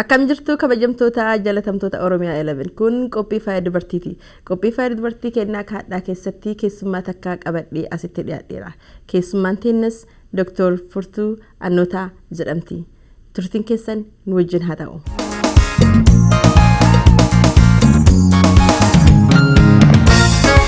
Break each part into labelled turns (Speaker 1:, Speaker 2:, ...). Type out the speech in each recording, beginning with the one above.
Speaker 1: Akkam jirtu kabajamtoota jalatamtoota Oromiyaa 11 kun qophii faaya dubartiiti. Qophii faaya dubartii kennaa kaadhaa keessatti keessummaa takkaa qabadhee asitti dhiyaadheera. Keessummaan teennas Dr. Furtuu Annootaa jedhamti. Turtiin keessan nu wajjin haa ta'u.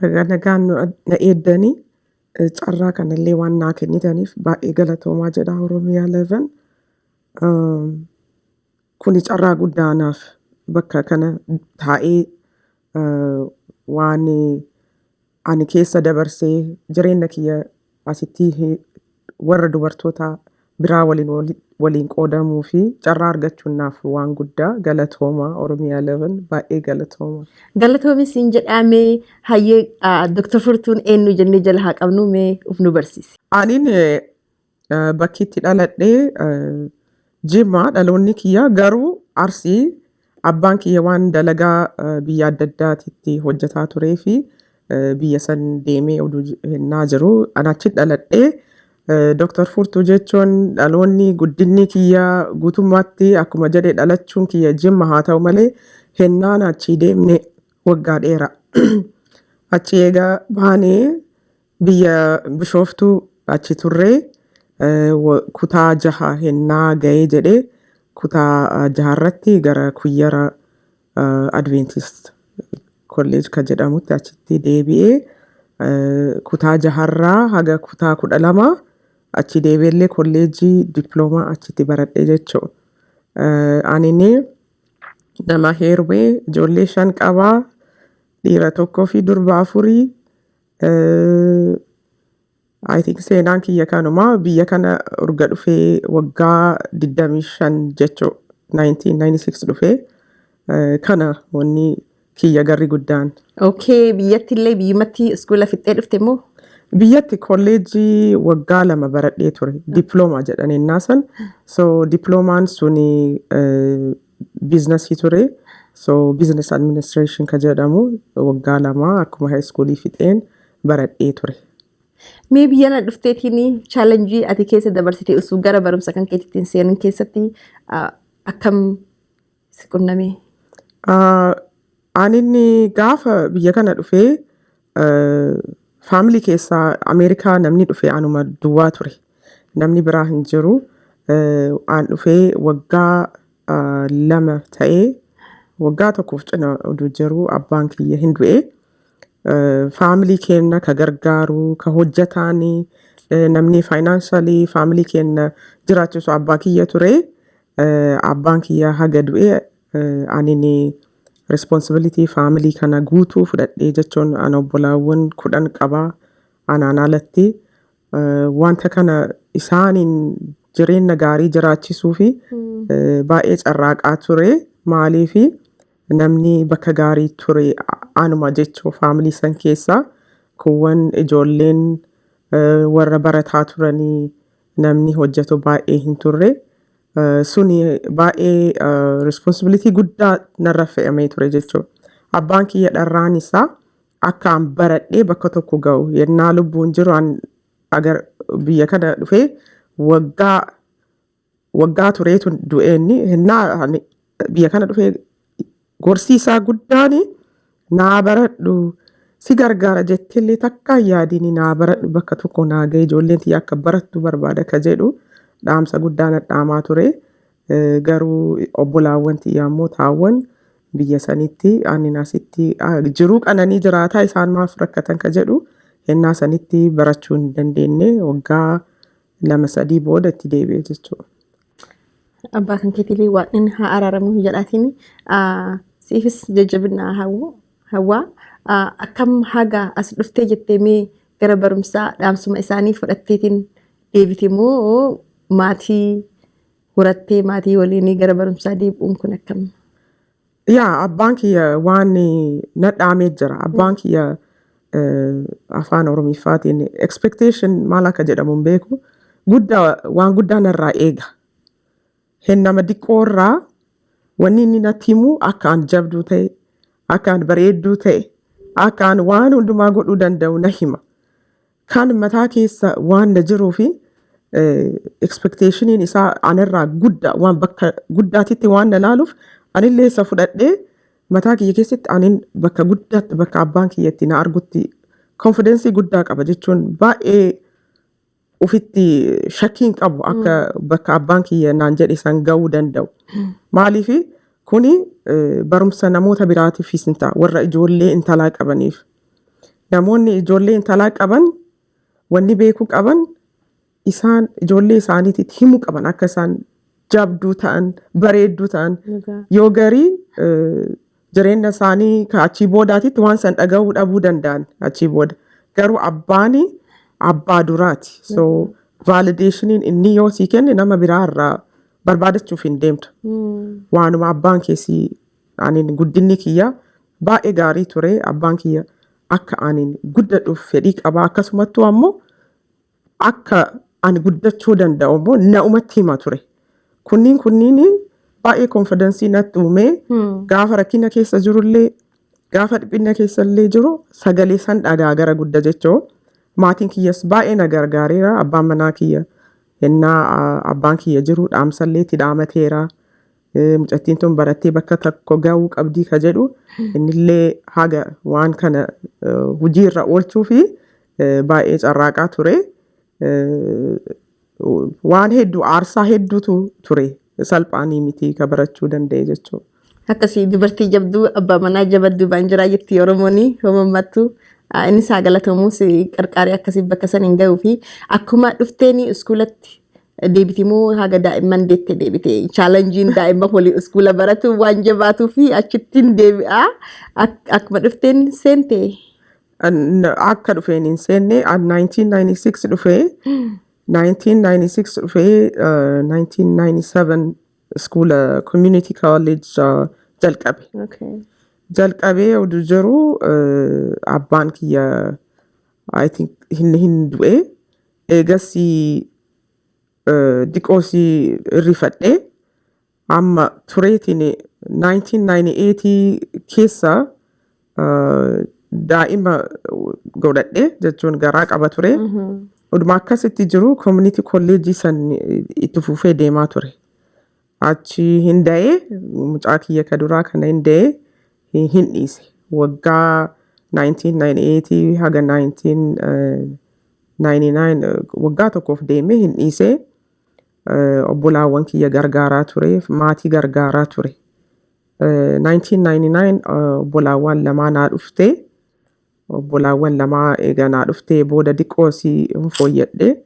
Speaker 1: Baga nagaan
Speaker 2: nu na eeddanii eh, carraa kanallee waan naa kennitaniif baay'ee galatoomaa jedha Oromiyaa 11. Um, kuni carraa guddaa anaaf bakka kana taa'ee uh, waan ani keessa dabarsee jireenya kiyya Asitti warra dubartoota biraa waliin waliin qoodamuu fi carraa argachuun naaf waan guddaa galatooma Oromiyaa 11 baay'ee galatooma. Galatoomi siin
Speaker 1: jedhaa mee hayyee Dr. Furtuun eenyu jennee jala haa qabnu mee uf nu barsiisi. Anin
Speaker 2: bakki itti dhaladhe Jimmaa dhaloonni kiyya garuu Arsii Abbaan kiyya waan dalagaa eh, biyya adda addaatitti hojjetaa turee fi eh, biyya san deemee oduu j- hennaa jiru an achi dhaladhee eh, Dr. Furtuu jechuun dhaloonni guddinni kiyya guutummaatti akkuma jedhe dhalachuun kiyya jimma haa ta'u malee hennaan achii deemne waggaa dheera. Achi eega baanee Biyya Bishooftuu achi turre kutaa jaha hennaa ga'ee jedhee kutaa jaharratti gara Kuyyara Adventist Kolleej ka jedhamutti achitti deebi'ee kutaa jaharraa haga kutaa kudha lama achi deebi'ellee kolleejii diploomaa achitti baradhe jechuudha. Anini nama heerumee ijoollee shan qabaa dhiira tokkoo fi durba afurii I think seenaan kiyya kanuma biyya kana urga dhufee waggaa 25 jechuu 1996 dhufee eh, kana wanni kiyya garri guddaan. Okay, biyyatti
Speaker 1: illee biyyumatti iskuula fixxee dhufte moo? Biyyatti
Speaker 2: kolleejjii waggaa lama baradhee ture. Diploomaa jedhan ennaa san. So diploomaan suni eh, biiznasii ture. So business administration ka jedhamu waggaa lama akkuma high school fixeen baradhee ture. Mee biyya
Speaker 1: na dhufteetiin chaalenjii ati keessa dabarsite osoo gara barumsa kan keetitti hin seenin keessatti ah, akkam si qunname? Ah, Ani
Speaker 2: inni gaafa biyya kana dhufee Faamilii keessaa Ameerikaa namni dhufee anuma duwwaa ture. Namni biraa hin jiru. Aan dhufee waggaa lama ta'ee waggaa tokkoof cina oduu jiru abbaan kiyya hin du'e. Faamilii keenna ka gargaaru, ka hojjetaan namni faayinaansaalii faamilii keenna jiraachisu abbaa kiyya ture. Abbaan kiyya haga du'e Anini responsibility family kana guutuu fudhadhee jechuun ana obbolaawwan kudhan qaba anaan alatti eh, wanta kana isaaniin jireenna gaarii jiraachisuu fi eh, baay'ee carraaqaa ture maaliifi namni bakka gaarii ture a- anuma jechuu faamilii san keessaa kuuwwan ijoolleen eh, warra barataa turanii namni hojjetu baay'ee hin turre. Eh, Suni baay'ee responsibilitii guddaa narra fe'amee ture jechuudha. Abbaan kiyya dharraan isaa akka an baradhee bakka tokko ga'u yennaa lubbuun jiru an agar biyya kana dhufee waggaa waggaa tureetu du'eenni hennaa ani biyya kana dhufee Gorsi isaa guddaan naa baradhu si gargaara jetteellee takka hin yaadini naa baradhu bakka tokko naa ga'e ijoolleen tiyya akka barattu barbaada ka jedhu dhaamsa guddaa na dhaamaa ture. Eh, Garuu obbolaawwan tiyya ammoo taawwan biyya sanitti aannin asitti ah, jiruu qananii jiraataa isaan maaf rakkatan ka jedhu hennaa sanitti barachuu hin dandeenye waggaa lama sadii booda itti deebi'e jechuudha.
Speaker 1: Abbaa kan keetiilii waan inni haa araaramu hin jedhaatiin siifis jajjabinaa hawwu hawwaa Ah, akkam haga as dhuftee jettee mee gara barumsaa dhaamsuma isaanii fudhatteetiin deebite moo maatii horattee maatii waliinii gara barumsaa deebi'uun kun akkam Yaa
Speaker 2: abbaan kiyya waan nadhaamee jira. Abbaan kiyya eh, afaan Oromiffaatiin expectation maal akka jedhamu hin beeku. Guddaa waan guddaa narraa eega. Hin nama diqqoo irraa wanni inni natti himu akka an jabduu ta'e, akka an bareedduu ta'e, akka an waan hundumaa godhuu danda'u na hima. Kaan mataa keessa waan na jiruu fi expectationiin isaa anarraa guddaa waan bakka guddaatitti waan na laaluuf anillee isa fudhadhee mataa kiyya keessatti anin bakka guddaatti bakka abbaan kiyya itti na argutti konfidensii guddaa qaba jechuun baay'ee ufitti shakkiin qabu akka bakka abbaan kiyya naan jedhe san ga'uu danda'u. Maaliif kuni eh, barumsa namoota biraatiifis hin ta'a warra ijoollee intalaa qabaniif Namoonni ijoollee intalaa qaban wanni beekuu qaban isaan ijoollee isaaniititti himuu qaban akka isaan jabduu ta'an bareedduu ta'an Dhugaa. yoo garii eh, jireenya isaanii ka achii boodaatitti waan san dhaga'uu dhabuu danda'an achii booda garuu abbaani abbaa duraati so valideeshiniin inni yoo sii kenne nama biraa irraa barbaadachuuf hin deemtu waanuma abbaan keessi Anin guddinni kiyya baay'ee gaarii ture. Abbaan kiyya akka anin guddadhuuf fedhii qaba. Akkasumattuu ammoo akka ani guddachuu danda'u immoo na'umatti hima ture. Kunniin kunniin baay'ee konfidansii natti uumee gaafa rakkina keessa jirullee gaafa dhiphinna keessa illee jiru sagalee san dhagaa gara gudda jechoo maatiin kiyyas baay'ee na gargaareera abbaan manaa kiyya hennaa ah, abbaan kiyya jiru dhaamsallee itti dhaamateera. Eh, Mucattiin tun barattee bakka tokko ga'uu qabdii ka jedhu innillee haga waan kana eh, hojii irra oolchuu fi eh, baay'ee carraaqaa ture. Eh, Waan hedduu aarsaa hedduutu ture salphaanii miti ka barachuu danda'e jechuudha. Akkasii dubartii
Speaker 1: jabduu abbaa manaa jabaddu baan jiraa jetti Oromooni homamattu. Inni isaa galatamuus qarqaaree akkasii bakka san hin ga'uu fi akkuma dhufteeni iskuulatti deebiti moo haga daa'imman deette deebite chaalanjiin daa'imma hoolii iskuula baratu waan jabaatuu fi achittiin deebi'a Ak- akkuma dhufteen seente An-
Speaker 2: akka dhufeen hin seenne an 1996 dhufee 1996 dhufee uh, 1997 iskuula community college uh, jalqabe okay. jalqabee oduu jiru uh, abbaan kiyya I think hin, hin du'e Eegasii diqoo si irrifadhe amma tureetiin 1998 keessa daa'ima godhadhe jechuun garaa qaba ture. Oduma akkasitti jiru community kolleejjii san itti fufee deemaa ture. Achi hin da'ee mucaa kiyya ka duraa kana hin da'ee hin hin dhiise. Waggaa 1998 haga 1999 eh, waggaa tokkoof deemee hin dhiisee eh, obbolaawwan kiyya gargaaraa ture, maatii gargaaraa ture. Eh, 1999 eh, obbolaawwan lamaa naa dhufte. Obbolaawwan lamaa eega naa dhuftee booda diqqoo si hin fooyyadhe.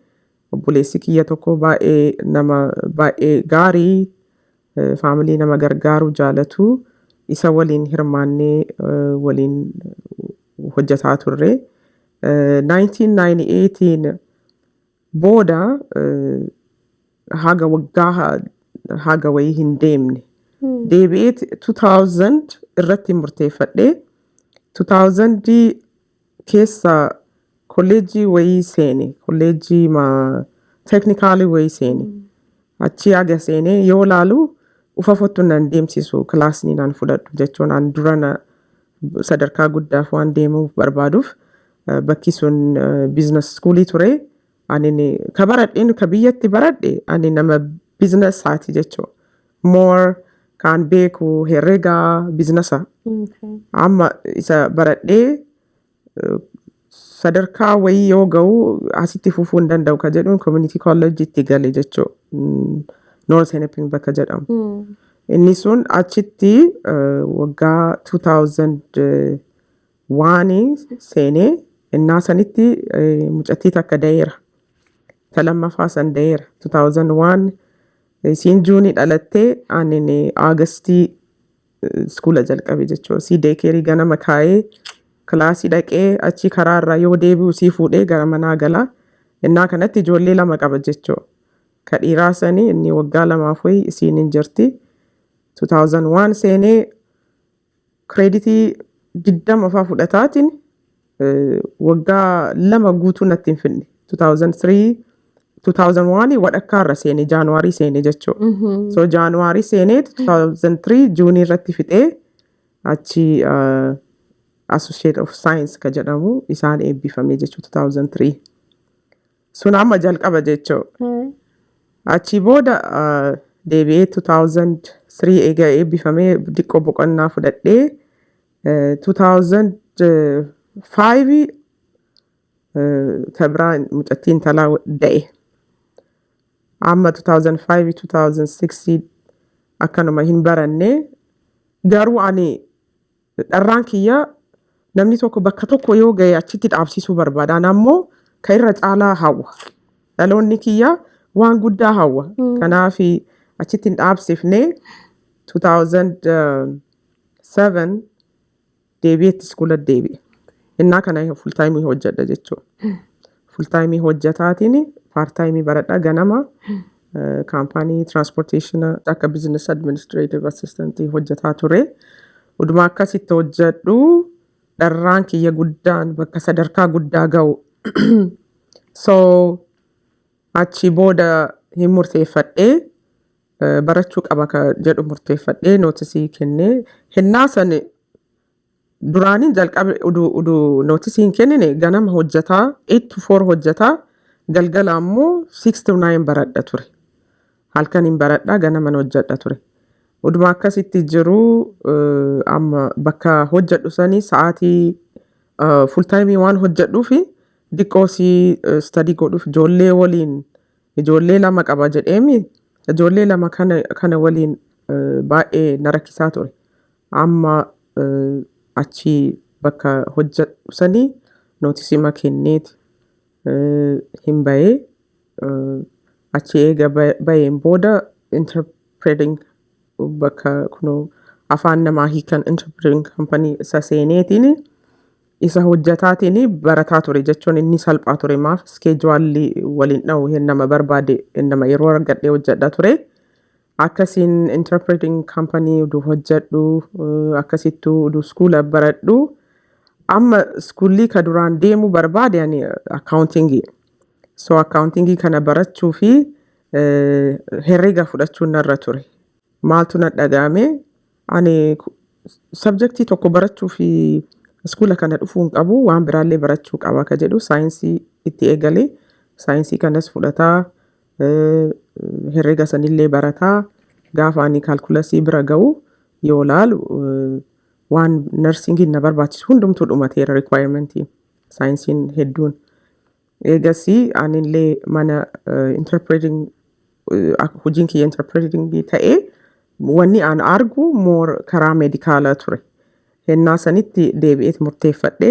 Speaker 2: Obboleessi kiyya tokko baay'ee nama baay'ee gaarii eh, faamilii nama gargaaru jaalatu isa waliin hirmaannee eh, waliin hojjetaa turre. Eh, 1998 booda eh, haga waggaa ha- haga wayii hin deemne. Deebi'eet 2000 irratti murteeffadhe. 2000 keessa kolleejjii wayii seene kolleejjii ma teeknikaalii wayii seene achii aga seene yoo laalu ufafottu nan deemsisu kilaasni nan fudhadhu jechuun an durana sadarkaa guddaaf waan deemuuf barbaaduuf eh, bakki sun biizines iskuulii ture Anini ka barad'een ka biyyatti barad'e ani nama biznessaati jechu. More kaan beeku herrega biznessa. Okay. Amma isa baradhee eh, sadarkaa wayii yoo ga'u asitti fufuu hin danda'u ka jedhuun community college itti gale jechuu. Mm, North Hennepin bakka jedhamu. Mm. Inni sun achitti eh, waggaa 2000 Waani seenee innaa sanitti eh, mucattii takka dayeera. Ta lammaffaa san dayeera. 2001 isiin juunii dhalattee aanin aagastii iskuula jalqabe jechuudha. Isii deekeerii ganama kaayee kilaasii dhaqee achii karaa irraa yoo deebi'u isii fuudhee gara manaa gala. Innaa kanatti ijoollee lama qaba jechuudha. Ka dhiiraa sanii inni waggaa lamaaf wayii isiin hin jirti. 2001 seenee Kireeditii 20 faa fudhataatiin waggaa lama guutuu natti hin finne. 2003 2001 wadhakkaa irra seene jaanuwaarii seene jechuudha. So jaanuwaarii seenee 2003 juunii irratti fixee achi Associate of Science ka jedhamu isaan eebbifame jechuudha 2003. Sun amma jalqaba jechuu. Ee, Achii booda ah, deebi'ee 2003 eega eebbifamee diqqoo boqonnaa fudhadhee eh, 2005 eh, ta biraa mucattii intalaa da'e. Amma 2005 2006 akkanuma hin baranne garuu ani Dharraan kiyya namni tokko bakka tokko yoo gahe achitti dhaabsisuu barbaada. Ana ammoo ka irra caalaa hawwa. Dhaloonni kiyya waan guddaa hawwa. Kanaaf achitti hin dhaabsifne 2007 deebi'ee itti iskuula deebi'e. Innaa kana full time hojjedha jechuudha. Fultaayimii hojjetaatiin paartaayimii baradha ganama kaampaanii tiraanspoorteeshina akka bizinas administreetiv assistantii hojjetaa ture. Uduma akkasitti hojjedhu dharraan kiyya guddaan bakka sadarkaa guddaa ga'u. so achi booda hin murteeffadhee barachuu qaba ka jedhu murteeffadhee nootisii kennee hennaa sani Duraaniin jalqabe udu udu notice hin kennine ganama hojjetaa 8 to 4 hojjetaa galgala ammoo 6 to 9 baradha ture. Halkan hin baradha ganaman hojjedha ture. Uduma akkasitti jiru eh, amma bakka hojjedhu sanii sa'aatii eh, full time waan hojjedhuufi diqqoo si eh, study godhuuf ijoollee waliin ijoollee lama qaba jedheemi ijoollee lama kana kana waliin eh, baay'ee na rakkisaa ture. Amma achi bakka hojjadhu sani nootisima kenneeti hin bahee. Achi eega baheen booda interpreting bakka kuno afaan namaa hiikan interpreting company isa seeneetiin isa hojjataatiin barataa ture jechuun inni salphaa ture maaf iskeejuwaalli waliin dhahu nama barbaade nama yeroo argadhee hojjadha ture. akkasiin interpreting company udu hojjadhu akkasittu udu skuula baradhu amma skuullii ka duraan deemuu barbaade ani accountingii so accountingii kana barachuu fi herrega fudhachuun narra ture maaltu na dhaga'ame ani sabjektii tokko barachuu fi skuula kana dhufuu hin qabu waan biraallee barachuu qaba ka jedhu saayinsii itti eegale saayinsii kanas fudhataa Herrega sanillee barataa gaafa ani kaalkulasii bira ga'u yoo laalu waan narsingiin na barbaachisu hundumtuu dhumateera requirementi saayinsiin hedduun. Eegasii anillee mana interpreting hojiin kiyya interpreting ta'e wanni aan argu moor karaa medikaala ture. Hennaa sanitti deebi'eet murteeffadhe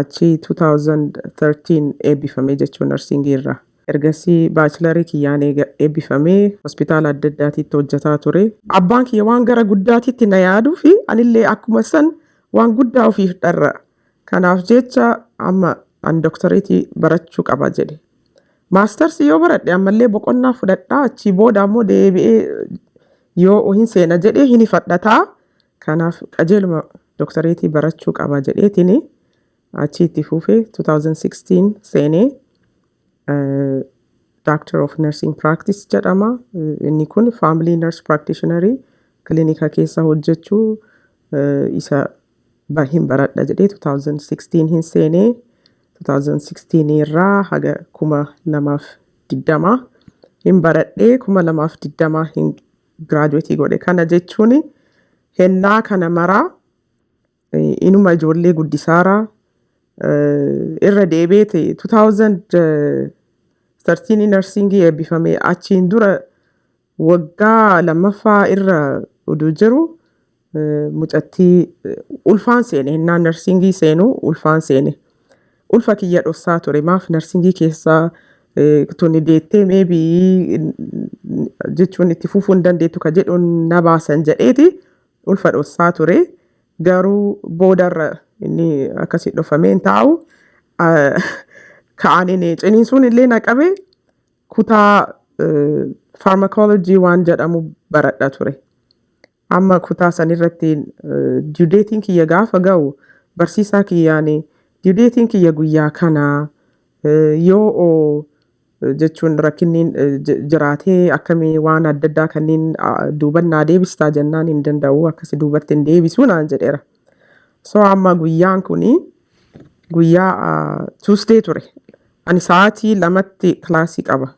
Speaker 2: Achi 2013 eebbifamee jechuun narsiingii irraa. Ergasii baachilarii kiyyaan eega eebbifamee hospitaala adda addaatiitti hojjataa ture. Abbaan kiyya waan gara guddaatitti na yaaduu fi anillee akkuma san waan guddaa ofiif dharra. Kanaaf jecha amma an doktoreetii barachuu qaba jedhe. Maastarsii yoo baradhe ammallee boqonnaa fudhadhaa achii booda ammoo deebi'ee yoo hin seena jedhee hin ifadhataa Kanaaf qajeeluma doktareetii barachuu qaba jedheetiin achii itti fuufee 2016 seenee Doctor of Nursing Practice jedhama. Inni kun Family Nurse Practitioner kilinika keessa hojjechuu isa hin baradha jedhee 2016 hin seenee 2016 irraa haga 2020 hin baradhee 2020 hin giraajuweetii godhe. Kana jechuun hennaa kana maraa eh, inuma ijoollee guddisaara eh, irra deebi'ee ta'e 2013 narsiingii eebbifame achiin dura waggaa lammaffaa irra utuu jiru Mucattii ulfaan seene hennaa narsingii seenu ulfaan seene. Ulfa kiyya dhossaa ture maaf narsingii keessaa tuni deettee meebii jechuun itti fufuu hin dandeettu ka jedhuun na baasan jedheeti ulfa dhossaa ture. Garuu boodarra inni akkasii dhofamee hin taa'u. Ka'aniin ciniinsuun illee na qabe kutaa faarmakoolojii waan jedhamu baradha ture. Amma kutaa san irratti due date'n kiyya gaafa ga'u barsiisaa kiyyaan due date'n kiyya guyyaa kana yoo o jechuun rakkinniin jiraatee akkamii waan adda addaa kanniin duuban naa deebistaa jennaan hin danda'u akkasi duubatti hin deebisu naan jedheera. So amma guyyaan kun guyyaa Tuesday ture. Ani sa'aatii lamatti kilaasii qaba.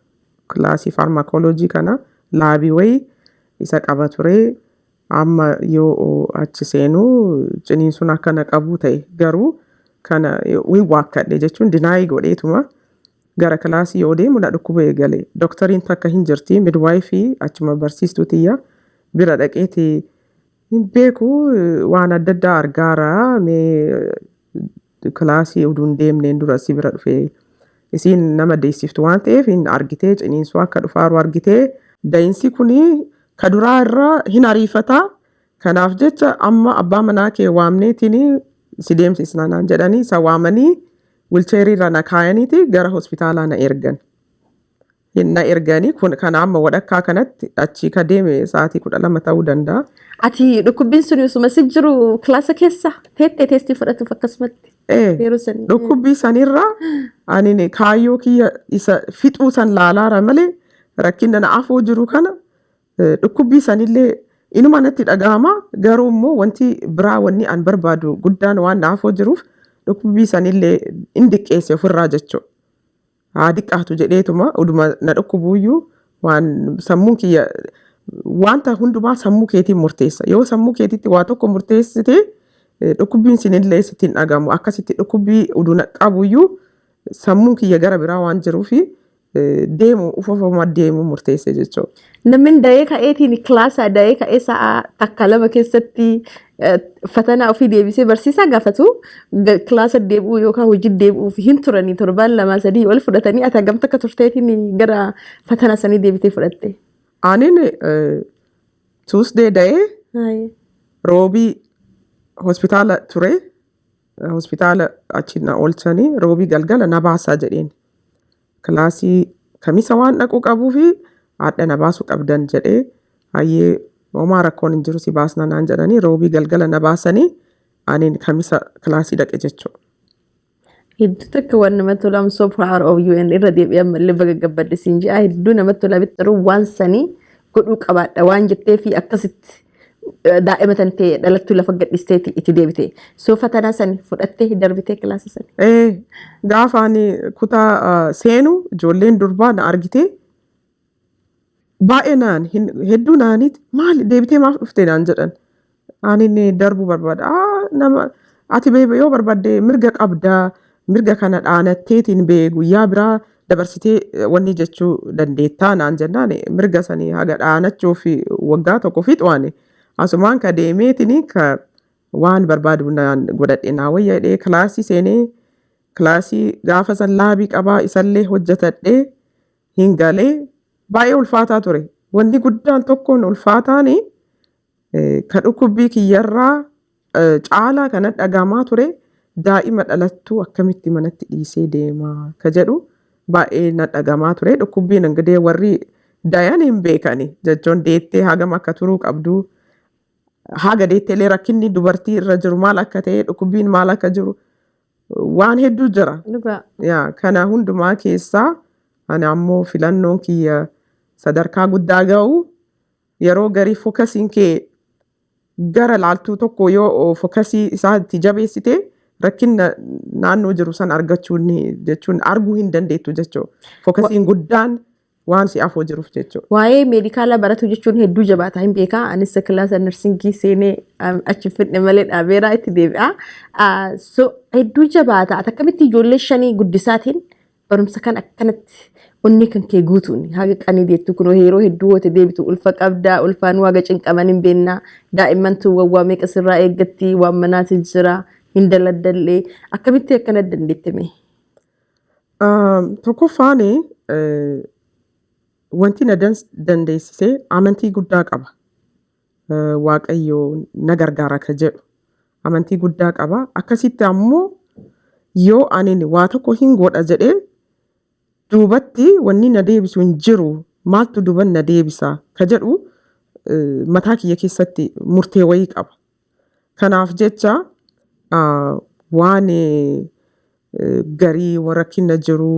Speaker 2: Kilaasii faarmakooloojii kana laabii wayii isa qaba ture. Amma yoo achi seenu ciniinsuun akka na qabu ta'e. Garuu kana hin waakkadhe jechuun dinaayii godheetuma gara kilaasii yoo deemu na dhukkuba eegale. Doktariin takka hin jirti midwaayifii achuma barsiistuu tiyya bira dhaqeeti hin beeku waan adda addaa argaara mee Kilaasii utuu hin deemneen dura si bira dhufee isiin nama deessiftu waan ta'eef hin argitee ciniinsuu akka dhufaaru argitee da'insii kun ka duraa irra hin ariifataa kanaaf jecha amma abbaa manaa kee waamneetiin si deemsisna naan jedhanii isa waamanii wilcheerii irra na kaayaniiti gara hospitaalaa na ergan. hin na ergani kun kana amma wadhakkaa kanatti achii ka deeme sa'aatii kudha lama ta'uu danda'a. Ati dhukkubbiin
Speaker 1: sun osuma si jiru kilaasa keessa teettee teestii fudhatuuf akkasumatti Ee, yeroo san. dhukkubbii
Speaker 2: sanirraa ani kaayyoo kiyya isa fixuu san laalaara malee rakkina na afoo jiru kana eh, dhukkubbii sanillee inuma natti dhaga'ama garuu immoo wanti biraa wanni an barbaadu guddaan waan na afoo jiruuf dhukkubbii sanillee hin diqqeesse ofirraa jechuudha. haa diqqaatu jedheetuma uduma na dhukkubuuyyuu waan sammuun kiyya wanta hundumaa sammuu keetiin murteessa yoo sammuu keetitti waa tokko murteessite eh, dhukkubbiin sinillee sitti hin dhagamu akkasitti dhukkubbii uduu na qabuyyuu sammuun kiyya gara biraa waan jiruufi eh, deemu ufofoma deemu murteesse jechuudha. Namni da'ee
Speaker 1: ka'eetiin kilaasaa da'ee ka'ee sa'a takka lama keessatti eh, fatanaa ofii deebisee barsiisaa gaafatu ga- kilaasa deebi'uu yookaan hojii deebi'uuf hin turanii torbaan lamaa sadii ol fudhatanii ati hagamta akka turteetiin gara fatanaa sanii deebitee fudhatte. Anin
Speaker 2: Tuusdee da'ee Haayee. roobii hospitaala ture. Hospitaala achi na oolchanii roobii galgala na baasaa jedheen. Kilaasii kamisa waan dhaquu qabuufi haadha na baasuu qabdan jedhee hayyee homaa rakkoon hin jiru si baasna naan jedhanii roobii galgala na baasanii aniin kamisa kilaasii dhaqe jechuudha.
Speaker 1: Hedduu takka waan namatti tolu I'm so proud of you and irra deebi'ee ammallee baga gabbadde siin jedha hedduu namatti tola bittaruu waan sanii godhuu qabaadha waan jetteefi akkasitti daa'ima tan tee dhalattuu lafa gadhisteeti itti deebite so fatanaa san fudhattee hin darbitee kilaasa san Ee, gaafa ani
Speaker 2: kutaa ah, seenu ijoolleen durbaa na argitee baay'ee naan hin- hedduu naaniit maali deebitee maaf dhufte naan jedhan ani inni darbuu barbaada "Aa, nama ati bee- yoo barbaadde mirga qabda Mirga kana dhaanatteetiin bee guyyaa biraa dabarsitee eh, wanni jechuu dandeettaa naan jennaan eh, mirga sanii haga dhaanachuuf eh, waggaa tokko fixuani asumaan ka deemeetini ka waan barbaadu naan godhadhe naa wayya jedhee kilaasii seenee kilaasii gaafa san laabii qabaa isallee hojjetadhee hin galee baay'ee ulfaataa ture. Wanni guddaan tokkoon ulfaataani Ka dhukkubbii kiyyarraa caalaa ka nadhagaamaa ture daa'ima dhalattuu akkamitti manatti dhiisee deema ka jedhu baay'ee nadhagamaa ture. Dhukkubbiin ingilee warri dayan hin beekani jechuun deettee hagam akka turuu qabdu haga deetteelee rakkinni dubartii irra jiru maal akka ta'e dhukkubbiin maal akka jiru waan hedduu jira. Dhugaa. Yaa kana hundumaa keessaa ani ammoo filannoon kiyya sadarkaa guddaa ga'u Yeroo garii fokasiin kee gara laaltuu tokko yoo fokasii isaa itti jabeessite rakkinna naannoo jiru san argachuu ni- jechuun arguu hin dandeettu jechuu. Fokasiin guddaan waan si afoo jiruuf jechuu. Waa'ee meedikaalaa
Speaker 1: baratuu jechuun hedduu jabaataa hin beekaa. Anis kilaasa narsingii seenee um, achi hin fidne malee dhaabeeraa itti deebi'aa. Ah, So hedduu jabaata. Ati akkamitti ijoollee shanii guddisaatiin Barumsa kan akkanatti onnee kan kee guutuun haga qanii deettu kunoo yeroo hedduu woote deebitu ulfa qabdaa ulfaan waaga cinqaman hin beennaa daa'imman tun wawwaa meeqa sirraa eeggatti waan manaati jira hin daladdallee akkamitti akkana dandeette mee.
Speaker 2: Tokkoffaan wanti na dandeessisee amantii guddaa qaba. Waaqayyo na gargaara ka jedhu amantii guddaa qaba. Akkasitti ammoo yoo ani waa tokko hin godha jedhee duubatti wanni na deebisu hin jiru maaltu duban na deebisa ka jedhu mataa kiyya keessatti murtee wayii qaba. Kanaaf jecha waan garii rakkina jiru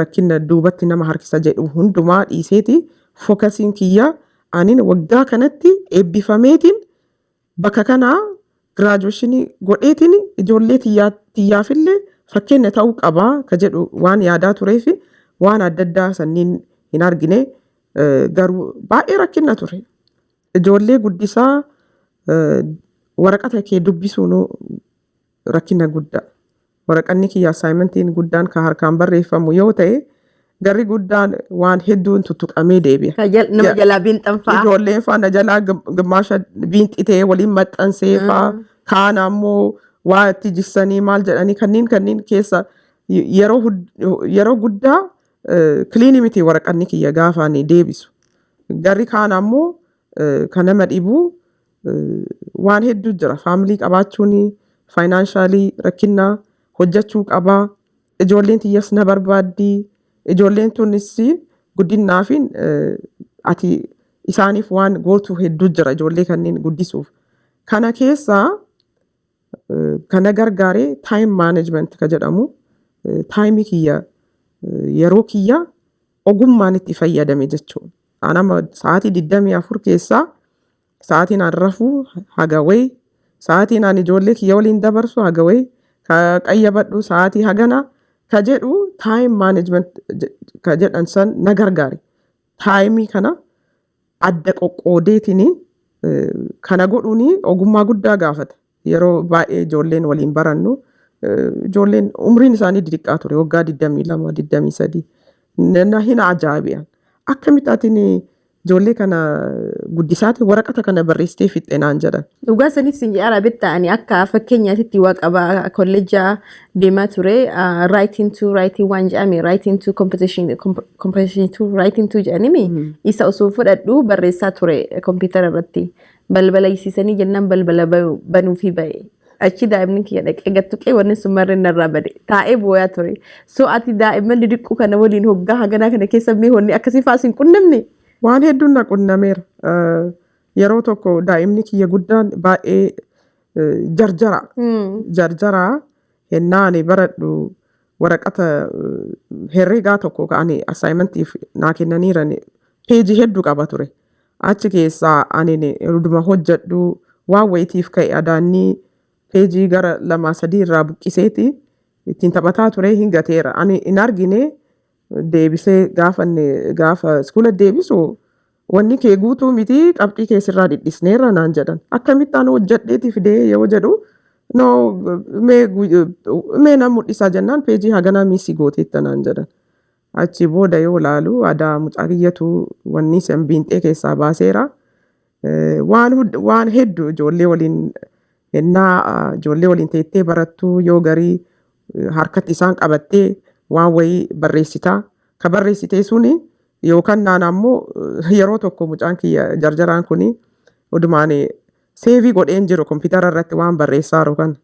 Speaker 2: rakkina duubatti nama harkisa jedhu hundumaa dhiiseeti fokasiin kiyya anin waggaa kanatti eebbifameetiin bakka kanaa giraajuweeshinii godheetiin ijoollee tiyyaa tiyyaafillee fakkeenya ta'uu qabaa ka jedhu waan yaadaa tureef waan adda addaa sanniin hin argine garuu baay'ee rakkina ture. Ijoollee guddisaa waraqata kee dubbisuun rakkina guddaa. Waraqanni kiyya assaayimentiin guddaan kan harkaan barreeffamu yoo ta'e garri guddaan waan hedduun tuttuqamee deebi'a. Ka jal- nama Ja- jalaa biinxan
Speaker 1: fa'a. Ijoolleen faa na jalaa gim-
Speaker 2: gimmaasha biinxitee waliin maxxansee faa kaan ammoo waa itti jissanii maal jedhanii kanniin kanniin keessa y- yeroo hud- yeroo guddaa Kiliini miti waraqanni kiyya gaafa ani deebisu. Garri kaan ammoo kan nama dhibu waan hedduu jira. Faamilii qabaachuun, faayinaanshaalii rakkinna, hojjechuu qaba, ijoolleen tiyyas na barbaaddi, ijoolleen tunis guddinnaa fi ati isaaniif waan gootu hedduu jira ijoollee kanneen guddisuuf. Kana keessaa Kana gargaare time management ka jedhamu taayimii kiyya yeroo kiyya ogummaan itti fayyadame jechuudha. An amma sa'aatii 24 keessaa sa'aatiin an rafuu haga wayi sa'aatiin an ijoollee kiyya waliin dabarsu haga wayi ka qayyabadhu sa'aatii hagana ka jedhu taayim management ka jedhan san na gargaare. Taayimii kana adda qoqqoodeetiin kana godhuun ogummaa guddaa gaafata. Yeroo baay'ee ijoolleen waliin barannu ijoolleen umriin isaanii didiqqaa ture waggaa 22, 23 na hin ajaa'iban. Akkamitti atiin ijoollee kana guddisaati waraqata kana barreessitee fixxe naan jedhan. Dhugaa saniif sin jedhara
Speaker 1: bitta ani akka fakkeenyaatitti waa qaba kolleejjaa deemaa ture raayitiin tuu raayitii waan jedhame raayitiin tuu kompetishinii tuu raayitiin tuu jedhanimi isa osoo fudhadhu barreessaa ture kompiitara irratti balbala isiisanii jennaan balbala ba- banuufi ba'e. Achi daa'imni kiyya dhaqee gattuqee wanni sun marreen narraa bade taa'ee booyaa ture. So ati daa'imman didiqquu kana waliin hoggaa haganaa kana keessa mee wanni akkasii fa'aa sin qunnamne? Waan hedduun na
Speaker 2: qunnameera. Eh, Yeroo tokko daa'imni kiyya guddaan baay'ee jarjara. Jarjara hennaa ani baradhu waraqata herregaa tokko ka ani assignmentiif naa kennaniiran peejii hedduu qaba ture. Achi keessaa ani ruduma hojjedhu waan wayitiif ka'e adaannii peejii gara lamaa sadii irraa buqqiseeti ittiin taphataa ture hin gateera. Ani hin argine deebisee gaafa inni gaafa iskoola deebisu wanni kee guutuu miti qabxii kee sirraa dhidhisneerra naan jedhan akkamitti ani hojjadheeti fidee yoo jedhu no mee gu- mee nan mul'isaa jennaan peejii haganaa miisii gooteetta naan jedhan achi booda yoo laalu adaa mucaa kiyyatu wanni san biinxee keessaa baaseera Eh, waan hud- waan hedduu ijoollee waliin Hennaa ijoollee waliin teettee barattu yoo garii harkatti isaan qabattee waan wayii barreessita. Ka barreessitee suni yookaan naan ammoo yeroo tokko mucaan kiyya jarjaraan kuni odumaan seevii godheen jiru kompiitara irratti waan barreessaaru kana.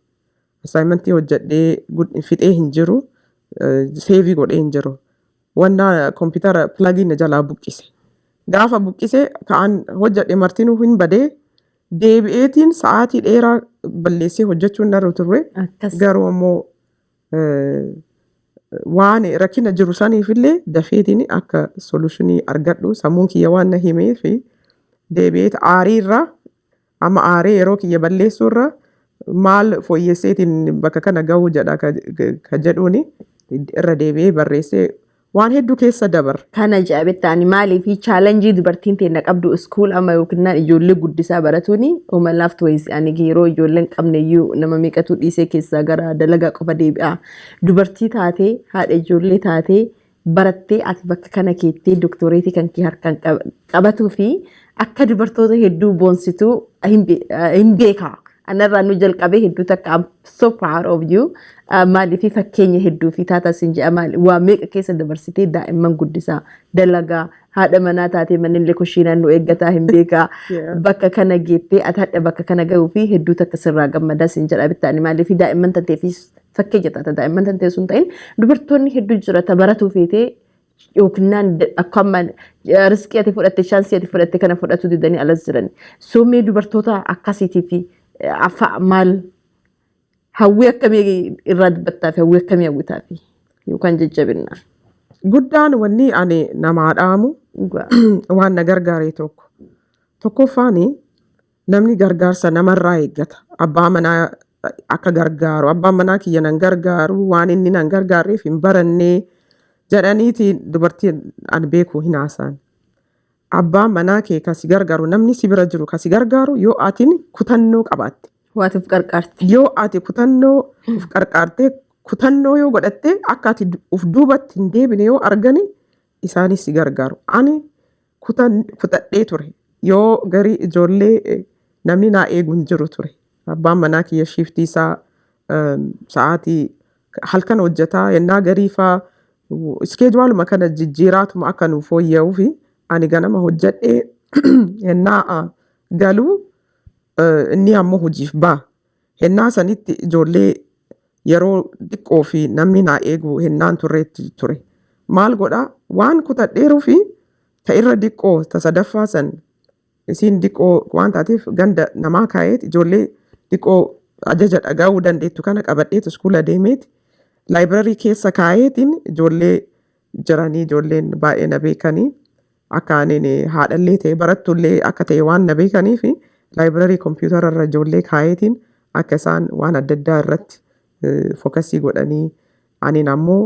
Speaker 2: Assaayimentii hojjedhee gud- fixee hin jiru seevii godhee hin jiru. Wannaa kompiitara pilagiin na jalaa buqqise. Gaafa buqqise ka'an hojjedhe martinuu hin badee Deebi'eetiin sa'aatii dheeraa balleessee hojjechuun narra turre. Akkas. Garuu ammoo eh, waan rakkina jiru saniifillee dafeetiin akka solutionii argadhu sammuun kiyya waan na himee fi deebi'eet aarii irraa amma aaree yeroo kiyya balleessuu irraa maal fooyyesseetiin bakka kana gahuu jedha ka, ka jedhuuni irra deebi'ee barreessee Waan hedduu keessa dabarre. Kana ja'a bettaani
Speaker 1: maaliifi chaalanjii dubartiin teenna qabdu iskuul amma yookinnaan ijoollee guddisaa baratuuni homa laaftu wayisi ani yeroo ijoolleen qabneyyuu nama meeqatu dhiisee keessaa gara dalagaa qofa deebi'a dubartii taatee haadha ijoollee taatee barattee ati bakka kana keettee doktoreetii kan kee harkaan qabatuu fi akka dubartoota hedduu boonsituu hin beekaa. Anarraa nu jalqabee hedduu takka I'm so proud of you. Uh, Maaliif fakkeenya hedduu fi taataa sin jedha maali waa meeqa keessa dabarsitee daa'imman guddisaa dalagaa haadha manaa taatee mannillee kushiinaan nu eeggataa hin beekaa Yeah. bakka kana geettee ati hadha bakka kana gahuu fi hedduu takka sirraa gammadaa sin jedha bittaani maaliif daa'imman tanteefis fakkeenya taata daa'imman tantee sun ta'in dubartoonni hedduu jira ta baratuu feetee yookinnaan akka amma riskii ati fudhatte shaansii ati fudhatte kana fudhatu didanii alas jiran. Summii dubartoota akkasiitii fi afaa maal hawwii akkamii irraa dubbattaa fi hawwii akkamii hawwitaa fi yookaan jajjabinna. Guddaan
Speaker 2: wanni ani namaa dhaamu Dhugaa. waan na gargaare tokko. Tokkoffaan Namni gargaarsa namarraa eeggata. Abbaa manaa akka gargaaru, abbaan manaa kiyya nan gargaaru, waan inni nan gargaarreef hin baranne jedhaniiti dubartii an beeku hin haasa'an. Abbaa manaa kee kan si gargaaru, namni si bira jiru kan si gargaaru yoo atin kutannoo qabaatte. Waati of qarqaarte.
Speaker 1: Yoo ati kutannoo
Speaker 2: of qarqaartee, kutannoo yoo godhatte akka ati du- of duubatti hin deebine yoo argani isaanis si gargaaru. Ani kutan kutadhee ture. Yoo garii ijoollee eh, namni naa eegu hin jiru ture. Abbaan manaa kiyya shiiftii isaa eh, sa'aatii halkan hojjetaa yennaa garii faa iskeejuwaaluma kana jijjiiraatuma akka nuuf fooyya'uu fi ani ganama hojjedhee yennaa ah, galuu eh, inni ammoo hojiif ba'a. Hennaa sanitti ijoollee yeroo diqqoo fi namni naa eegu hennaan turreetti ture. Maal godha? Waan kutadheeruu fi ta irra diqqoo ta sadaffaa san isiin diqqoo waan taateef ganda namaa kaayeet ijoollee diqqoo ajaja dhaga'uu dandeettu kana qabadheet iskuula deemeet laayibirarii keessa kaayeetiin ijoollee jiranii ijoolleen baay'ee na beekanii Akka anin haadhallee ta'e barattullee akka ta'e waan na beekaniif laayibirarii kompiitara irra ijoollee kaayeetiin akka isaan waan adda addaa irratti fokasii godhanii anin ammoo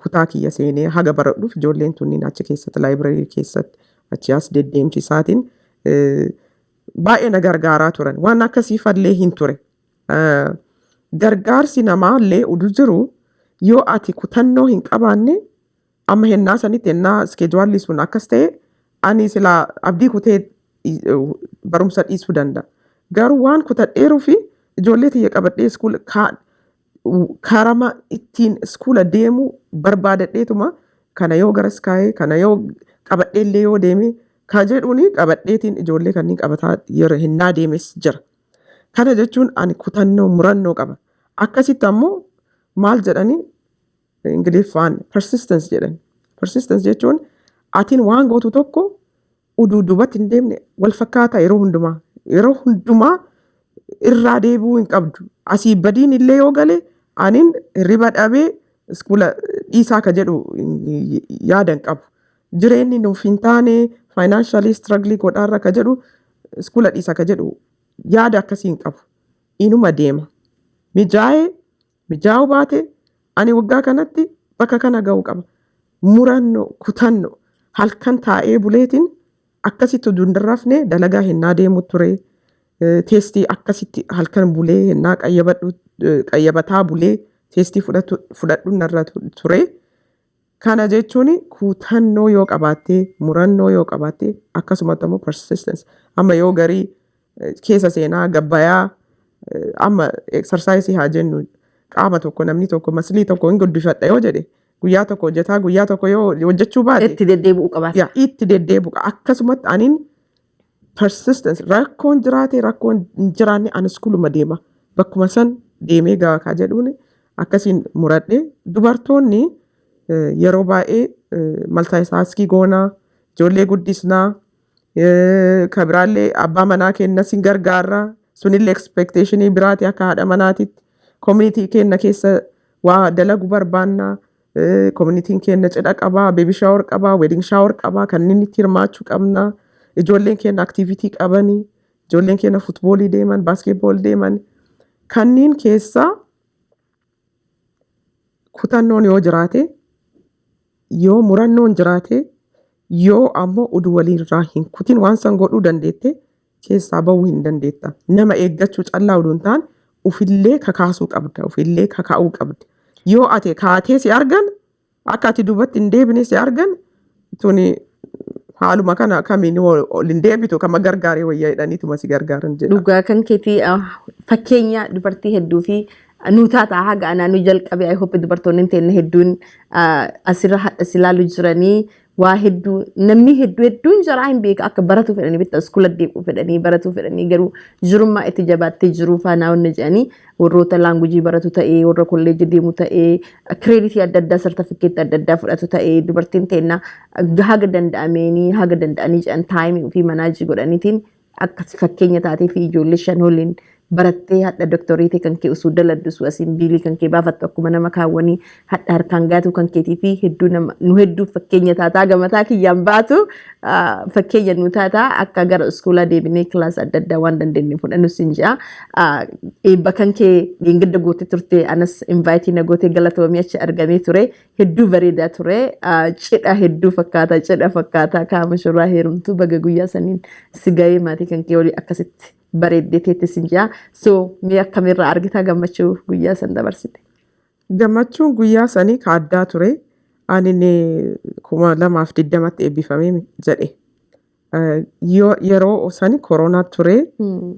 Speaker 2: kutaa kiyya seenee haga baradhuuf ijoolleen tunniin achi keessatti laayibirarii keessatti achi as deddeemsi isaatiin baay'ee na gargaaraa turan waan akkasii fallee hin ture. Gargaarsi namaallee udu jiru yoo ati kutannoo hin qabaanne Amma hennaa sanitti hennaa iskeejuwaalli sun akkas ta'e ani silaa abdii kutee barumsa dhiisuu danda'a. Garuu waan kutadheeruu fi ijoollee tiyya qabadhee iskuula karama ittiin iskuula deemuu barbaadadheetuma kana yoo garas kaa'ee kana yoo qabadhee illee yoo deemee ka jedhuun qabadheetiin ijoollee kanneen qabataa yeroo hennaa deemes jira. Kana jechuun ani kutannoo murannoo qaba. Akkasitti ammoo maal jedhanii Ingiliffaan persistence jedhan. Persistence jechuun atiin waan gootu tokko uduu duubatti hin deemne wal fakkaataa yeroo hundumaa. Yeroo hundumaa irraa deebi'uu hin qabdu. Asii badiin illee yoo gale aniin hirriba dhabee iskuula dhiisaa ka jedhu yaada hin qabu. Jireenyi nuuf hin taane faayinaanshalii istiragilii godhaarra ka jedhu iskuula dhiisa ka jedhu yaada akkasii hin qabu. Inuma deema. Mijaa'ee Mijaa'uu baate ani waggaa kanatti bakka kana ga'u qaba. Murannoo, kutanno, halkan taa'ee buleetiin akkasitti utuu hin rafne dalagaa hennaa deemu ture. Eh, Teestii akkasitti halkan bulee hennaa qayyabadhu eh, qayyabataa bulee teestii fudhatu- fudhadhu narra tu- ture. Kana jechuun kutannoo yoo qabaatte, murannoo yoo qabaatte, akkasumatti ammoo persistence. Amma yoo garii eh, keessa seenaa gabbayaa eh, amma exercise haa jennu qaama tokko namni tokko maslii tokko hin guddifadha yoo jedhe guyyaa tokko hojjetaa guyyaa tokko yoo hojjechuu baate Itti deddeebi'uu qabaata. yaa
Speaker 1: itti deddeebi'u qaba.
Speaker 2: Akkasumatti anin persistence rakkoon jiraate rakkoon hin jiraanne ani iskuuluma deema bakkuma san deemee ga'a kaa jedhuun akkasiin muradhe dubartoonni eh, yeroo baay'ee maltaayitaaskii goonaa ijoollee guddisnaa eh, ka biraallee abbaa manaa keenna sin gargaarra sunillee expectationii biraati akka haadha manaatitti community keenna keessa waa dalagu barbaannaa Eh, Koominitiin keenya cidha qabaa, beebi shaawar qabaa, weeding shaawar qabaa, kanneen itti hirmaachuu qabna. Ijoolleen keenya aktiivitii qabani, ijoolleen keenya futboolii deeman, baaskeetbool deeman. Kanneen keessaa kutannoon yoo jiraate, yoo murannoon jiraate, yoo ammoo udu waliirraa hin kutin waan san godhuu dandeette keessaa ba'uu hin dandeetta. Nama eeggachuu callaa odoo hin taane ufillee kakaasuu qabda, ufillee kakaa'uu qabda. Yoo ate kaatee si argan, akka ati duubatti hin deebine si argan, tuni haaluma kana akkamiin ol ol hin deebitu kama gargaaree wayyaa jedhaniituma si gargaaran jedha. Dhugaa kan keetii
Speaker 1: ah, fakkeenya dubartii hedduu fi nu taataa haga anaa nu jalqabe I hope dubartoonni teenne hedduun ah, asirra hadha si ilaalu jiranii waa hedduu namni hedduu hedduun jaraa hin beeka akka baratuu fedhanii bitta iskoola deemuu fedhanii baratuu fedhanii garuu jirummaa itti jabaattee jiruu faanaa wanna jedhanii warroota laangujii baratu ta'ee warra kolleejji deemu ta'ee kireeditii adda addaa sartifikkeetti adda addaa fudhatu ta'ee dubartiin teenna haga danda'ameenii haga danda'anii jedhan taayimii ofii manaajii godhaniitiin akka fakkeenya taatee fi ijoollee shan waliin barattee hadha doktoreetii kan kee osoo daladdu osoo asiin biilii kan kee baafattu akkuma nama kaawwanii hadha harkaan gaatuu kan keetii fi hedduu nama nu hedduu fakkeenya taataa gamataa kiyyaan baatu ah, fakkeenya nu taataa akka gara iskuulaa deebinee kilaas adda addaa waan dandeenye fudhannu siin jedha. Ah, Eebba kan kee dheengadda gootee turte anas invaayitii na gootee galatoomii achi argamee ture Hedduu bareedaa ture. Cidha hedduu fakkaata. Cidha fakkaata. Kaama shurraa heerumtu baga guyyaa saniin si gahee maatii kan kee olii akkasitti bareeddee teetti sin jaa. So mee akkamirraa argitaa gammachuu guyyaa san dabarsite. Gammachuun
Speaker 2: guyyaa sanii ka addaa ture. Ani kuma lamaaf digdamatti eebbifamee jedhe. Yoo yeroo osani koronaa turee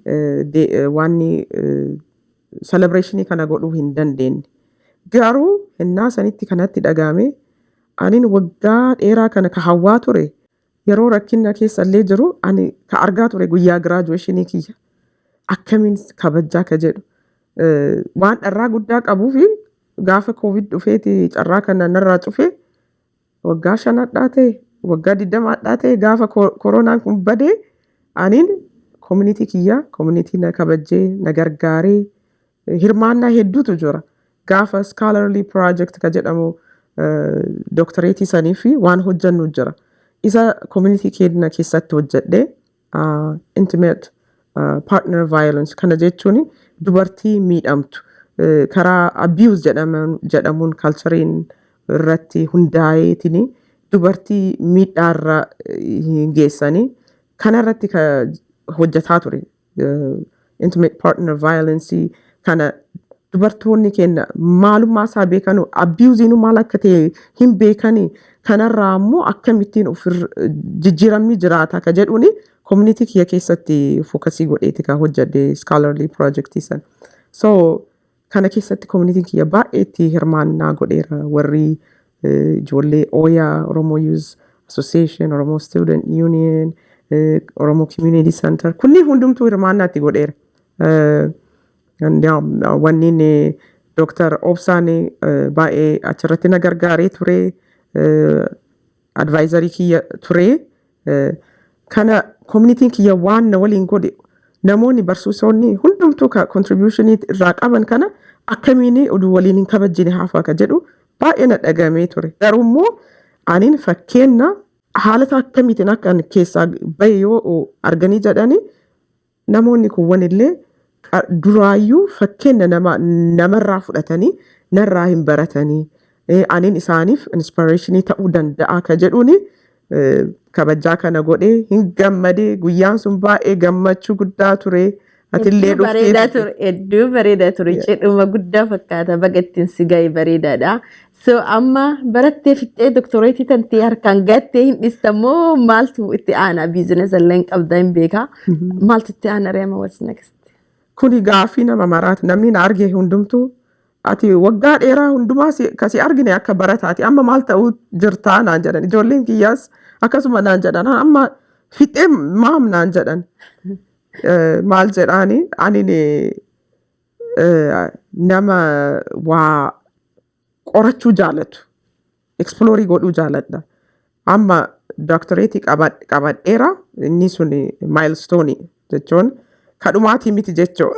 Speaker 2: eh, de- eh, waanni selebireeshinii kana godhuu hin dandeenye. Garuu hennaa sanitti kanatti dhagaame anin waggaa dheeraa kana ka hawwaa ture yeroo rakkinna keessa illee jiru ani ka argaa ture guyyaa giraajuweeshinii kiyya akkamiin kabajjaa ka jedhu eh, waan dharraa guddaa qabuu fi gaafa koovid dhufeeti carraa kana narraa cufee Waggaa shan hadhaa ta'e, waggaa digdama hadhaa ta'e gaafa koronaan kun badee aniin koominitii kiyyaa koominitii na kabajjee na gargaaree hirmaannaa hedduutu jira. Gaafa scholarly project ka jedhamu doktoreetii sanii fi waan hojjannu jira. Isa koominitii keenya keessatti hojjedhee intimate partner violence kana jechuun dubartii miidhamtu karaa abuse jedhamuun kalchariin irratti hundaa'eetiin dubartii miidhaarra hin geessanii kanarratti hojjetaa ture intimate partner violence kana dubartoonni keenya maalummaa isaa beekanu abiyuuziin maal akka ta'e hin beekani kanarraa immoo akkamittiin of jijjiiramni jiraata ka jedhuuni community kiyya keessatti fokasii godheeti ka hojjedhe scholarly project san so Kana keessatti koominitiin kiyya baay'ee itti hirmaannaa godheera. Warri eh, ijoollee Oya, Oromo Youth Association, Oromo Student Union, eh, Oromo Community Center kunniin hundumtuu hirmaannaa itti godheera. Eh, Endiyaam wanniin Dooktar Obsaan eh, baay'ee achirratti na gargaaree ture. Eh, advaayizarii kiyya ture. Eh, Kana koominitiin kiyya waan na waliin godhe namoonni barsiisonni hundumtuu ka kontribuushinii irraa qaban kana akkamiin oduu waliin hin kabajjine hafa ka jedhu baay'ee na dhagamee ture. Garuu immoo aniin fakkeenna haalata akkamiitiin akka ani keessaa bahe yoo arganii jedhanii Namoonni kuwwan illee duraayyuu fakkeenna nama namarraa fudhatanii narraa hin baratanii anin isaaniif inspirationii ta'uu danda'aa ka jedhuuni kabajjaa kana godhee hin gammadee guyyaan sun baay'ee gammachuu guddaa turee atillee Hedduu bareedaa dhuftee ture.
Speaker 1: Hedduu bareedaa ture. Cidhuma guddaa fakkaata. Baga ittiin si ga'e bareedaadha. So amma barattee fixxee doktoreetii tantee harkaan gattee hin dhistan moo maaltu itti aanaa biizinesa illee hin qabda hin beekaa. Maaltu itti aanaa reema what's next? Kuni gaaffii
Speaker 2: nama maraati. Namni na arge hundumtuu ati waggaa dheeraa hundumaa si- ka si argine akka barataati. Amma maal ta'uu jirtaa naan jedhan. Ijoolleen kiyyaas akkasuma naan jedhan. "Ah, Amma fixee maam naan jedhan. Eh, Maal jedhaani ani ni- nama waa qorachuu jaalatu ekspiloorii godhuu jaaladha amma dooktoreetii qabadheera inni sun maayilstoonii jechuun kadhumaatii miti jechuu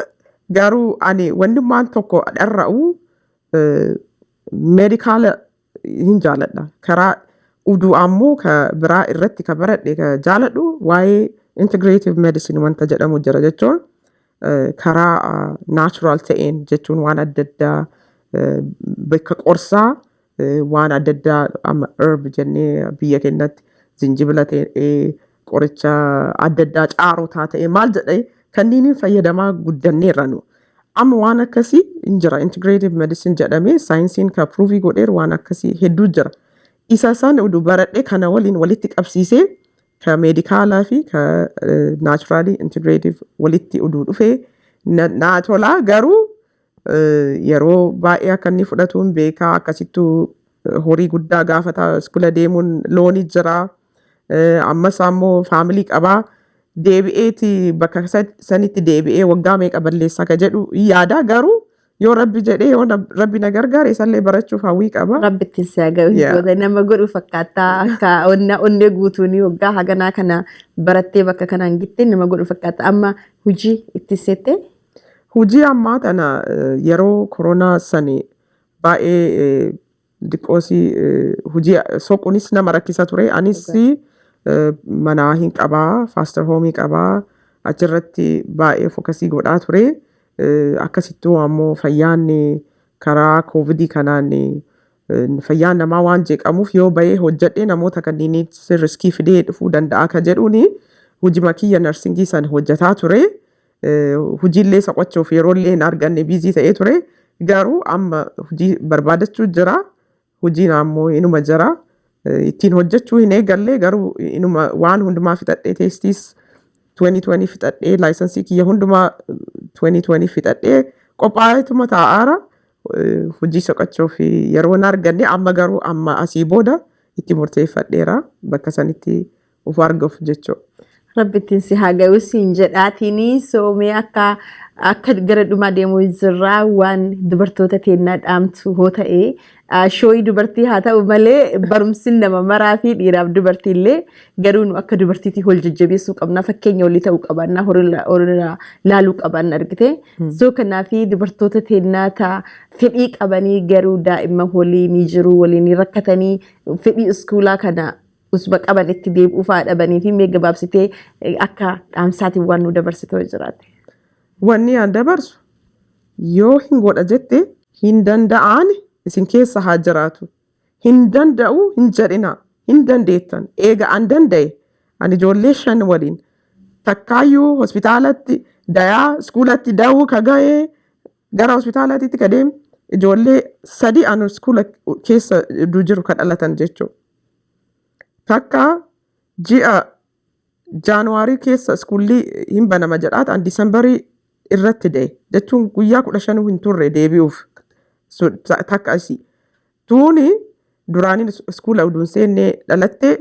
Speaker 2: garuu ani wannummaan tokko dharra'u meedikaala hin jaaladha karaa uduu ammoo ka biraa irratti ka baradhe ka jaaladhu waa'ee integrative medicine wanta jedhamu jira jechuun eh, karaa ah, natural ta'een jechuun waan adda addaa eh, bakka qorsaa eh, waan adda addaa amma herb jennee biyya keenyatti zinjibila ta'ee qoricha adda addaa caarotaa ta'e maal jedhee kanniiniin fayyadamaa guddanneerra nu. Amma waan akkasii hin jira integrative medicine jedhamee saayinsiin ka pruuvii godheer waan akkasii hedduu jira. Isa san udu baradhee kana waliin walitti qabsiisee ka meedikaalaa fi ka naachuraalii integrative walitti uduu dhufee na- naa tolaa garuu Yeroo baay'ee akka inni fudhatu hin beeka. Akkasittuu horii guddaa gaafata. Iskula deemuun looni jira. Ammas ammoo faamilii qaba. Deebi'eeti bakka sanitti deebi'ee waggaa meeqa balleessaa ka jedhu hin yaada. Garuu yoo rabbi jedhee yoo rabbi na gargaare isallee barachuuf hawwii qaba. Rabbitti si haa ga'u
Speaker 1: Yeah. goota nama godhu fakkaata akka onna onnee guutuun waggaa haganaa kana barattee bakka kanaan gittee nama godhu fakkaata amma hojii itti seettee Hujii
Speaker 2: ammaa tana yeroo koronaa sani baay'ee diqqoosi hujii soqunis nama rakkisa ture. Anis manaa hin qabaa, faaster hoomii qabaa, achirratti baay'ee fokasii godhaa ture. Akkasittuu ammoo fayyaan karaa koovidii kanaan fayyaan namaa waan jeeqamuuf yoo bahee hojjedhee namoota kanniinitti riskii fidee dhufuu danda'a ka jedhuuni hujima kiyya narsingii san hojjetaa ture. Hojiillee isa qochuuf yeroollee hin arganne biizii ta'ee ture. Garuu amma hojii barbaadachuu jira. Hojiin ammoo inuma jira. Ittiin hojjechuu hin eegalle garuu inuma waan hundumaa fixadhee teestiis 2020 fixadhee laayisansii kiyya hundumaa 2020 fixadhee qophaa'eetuma taa'aara. Hojii soqachuuf yeroo hin arganne amma garuu amma asii booda itti murteeffadheera bakka sanitti of argaf jecho. Rabbi ittiin si
Speaker 1: haa gayu siin jedhaatini soomee akka akka gara dhumaa deemuu jirraa waan dubartoota teennaa dhaamtu hoo ta'e ah, shooyi dubartii haa ta'u malee barumsin nama maraa fi dhiiraaf dubartii illee garuu nu akka dubartiitii hol jajjabeessuu qabna fakkeenya olii ta'uu qabaannaa horii horii laaluu qabaanna argite soo kanaaf dubartoota teennaa ta'a fedhii qabanii garuu daa'imman holii ni jiru waliin ni rakkatanii fedhii iskuulaa kana usba qaban itti deebi'uu fa'aa dhabanii fi mee gabaabsitee eh, akka dhaamsaatiin waan nu dabarsitoo jiraate. Wanni aan
Speaker 2: dabarsu yoo hin godha jette hin danda'aan isin keessa haa jiraatu. Hin danda'u hin jedhina. Hin dandeettan. Eega an danda'e ani ijoollee shan waliin takkaayyuu hospitaalatti dayaa iskuulatti da'uu ka ga'ee gara hospitaalaatitti ka deemu ijoollee sadii anu iskuula keessa du jiru ka dhalatan jechuudha. takka ji'a jaanuwaarii keessa iskuullii hin banama jedhaat an diisambarii irratti da'e jechuun guyyaa kudha shanuu hin turre deebi'uuf takka isii tuuni duraaniin iskuula uduun seennee dhalattee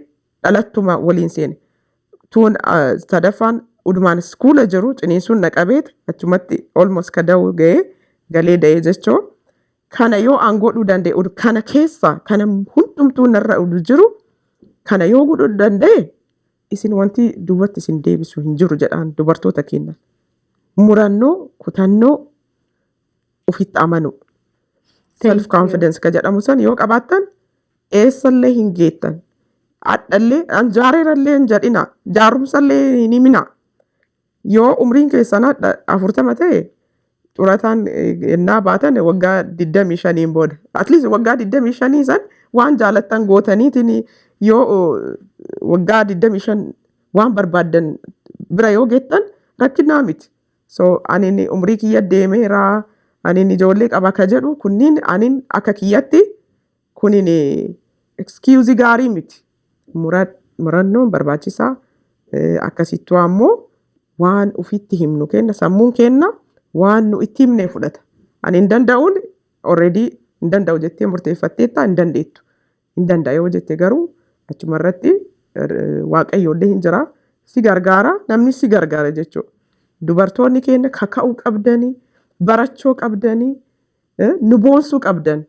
Speaker 2: dhalattuma waliin seene tuun sadaffaan udumaan iskuula jiru ciniinsuun na qabeet achumatti olmos ka da'uu ga'ee galee da'ee jechoo Kana yoo an godhuu danda'e ud- kana keessa kana hundumtuu narra ud jiru kana yoo godhuu danda'e isin wanti duubatti isin deebisu hin jiru jedhaan dubartoota keenya. Murannoo, kutannoo, ofitti amanuu. Self Thank you. confidence ka jedhamu san yoo qabaattan eessallee hin geettan. Hadhallee an jaareerallee hin jedhina. Jaarumsallee hin himina. Yoo umriin keessan hadha afurtama ta'e xurataan ennaa baatan waggaa 25 booda. At least waggaa 25 san waan jaalattan gootaniitiin yoo waggaa 25 waan barbaaddan bira yoo geettan rakkinaa miti. So anin umrii kiyya deemeeraa anin ijoollee qaba ka jedhu kunniin anin akka kiyyatti Kunin excuse gaarii miti. Murad murannoon barbaachisaa eh, akkasittuu ammoo waan ufitti himnu kenna sammuun kenna waan nu itti himne fudhata ani hin danda'uun already hin danda'u jettee murteeffatteetta hin dandeettu hin danda'a yoo jette garuu achuma irratti eh, waaqayyoollee hin jira si gargaara namni si gargaara jechuudha dubartoonni keenya kaka'uu qabdanii barachoo qabdanii Eh, nu boonsuu qabdan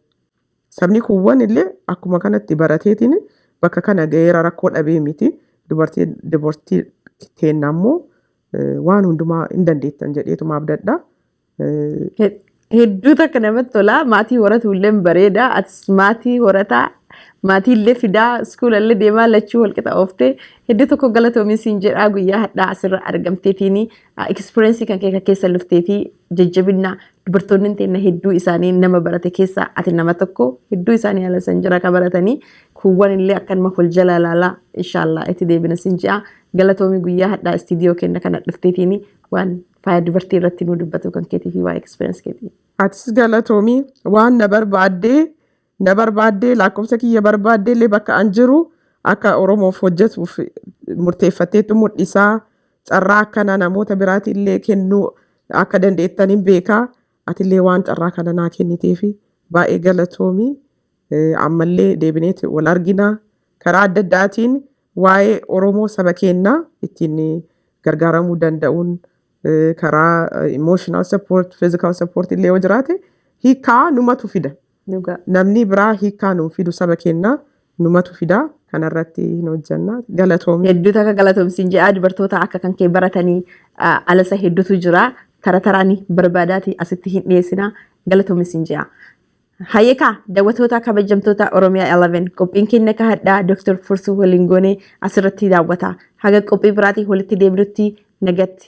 Speaker 2: sabni kuuwwan illee akkuma kanatti barateetiin bakka kana ga'eera rakkoo dhabee miti dubartii dubartii teenna ammoo eh, waan hundumaa hin dandeettan jedheetuma abdadha Eh, He- Hedduu
Speaker 1: takka namatti tola. Maatii horatu illee bareeda. Atis maatii horataa. Maatii illee fidaa. Iskuula illee deemaa lachuu walqixa ooftee. Hedduu tokko galatoomi siin jedhaa guyyaa hadhaa asirra argamteetiini. Experience kan kee kan keessa luftee fi jajjabinna dubartoonni teenna hedduu isaanii nama barate keessa ati nama tokko hedduu isaanii ala san jira ka baratanii kuuwwan illee akkanuma wal jala laala inshallah itti deebina sin ji'a galatoomi guyyaa hadhaa istiidiyoo kenna kana dhufteetiini waan faaya dubartii irratti nu dubbatu kan keetii fi waa experience keetii. Atis galatoomi
Speaker 2: waan na barbaaddee na barbaaddee lakkoofsa kiyya barbaaddee illee bakka an jiru akka Oromoof hojjetuuf murteeffatteetu mul'isaa carraa akkana namoota biraati illee kennuu akka dandeettan hin beekaa ati illee waan carraa kana naa kenniteefi baay'ee galatoomi Eh, ammallee deebineeti wal arginaa karaa adda addaatiin waa'ee Oromoo saba keenyaa ittiin gargaaramuu danda'uun eh, karaa emotional support, physical support illee yoo jiraate hiikaa numatu fida. Dhugaa. Namnii biraa hiikkaa nuuf fidu saba keenna numatu fida kana irratti hin hojjanna galatoomi. Hedduu takka galatoom siin
Speaker 1: jedhaa dubartoota akka kan kee baratanii ah, alasa hedduutu jira tara taraani barbaadaati asitti hin dhiyeessina galatoomi siin jedha. Hayyeekaa daawwattoota kabajamtoota Oromiyaa 11 qophiin keenya akka hadhaa Dr. Fursuu waliin goone asirratti daawwata. Haga qophii biraatii walitti deebinutti nagatti.